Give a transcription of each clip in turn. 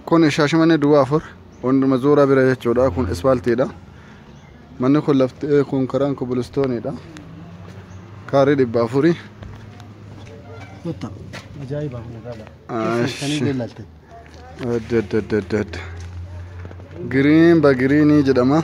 Kun Shaashamannee Duwwaa Afur Wanduma Zuuraa bira jechuudha. Kun ispaaltiidha. Manni kun lafti eh, kun karaan kobilistooniidha. Kaarii dhibba afurii. Gotta. Ajaa'iba magaalaa. Ah, Keessa sanii shi. beellalte. Adda adda adda adda adda. Giriin bagiriinii jedhama.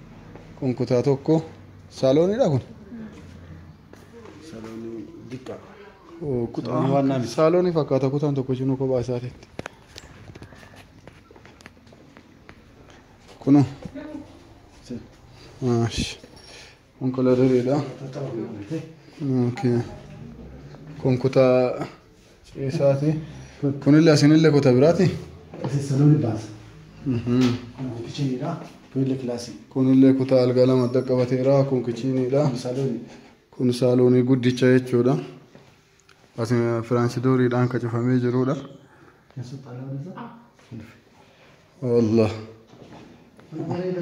Kun kutaa tokko saalooniidha kun. Saloonii diqqaa. Oo, Kutaa waan naami. saaloonii fakkaata kutaan tokko isinuu kophaa isaatiitti. Kunoo. Maash. Kun koladariidha. Okay. Kun kutaa Ciisaati. Kunille asinille kuta biraati. Asi saloni baasa. Kun kichiniidha. Kunille kilaasii. Kunille kutaa algaa lama adda qabateera. Kun kichiniidha. Kun saloni. Kun saaloonii guddicha jechuudha. Asi firaansidooriidhaan kan cufamee jirudha. Keessa xaalaadha. Allah. Bareeda.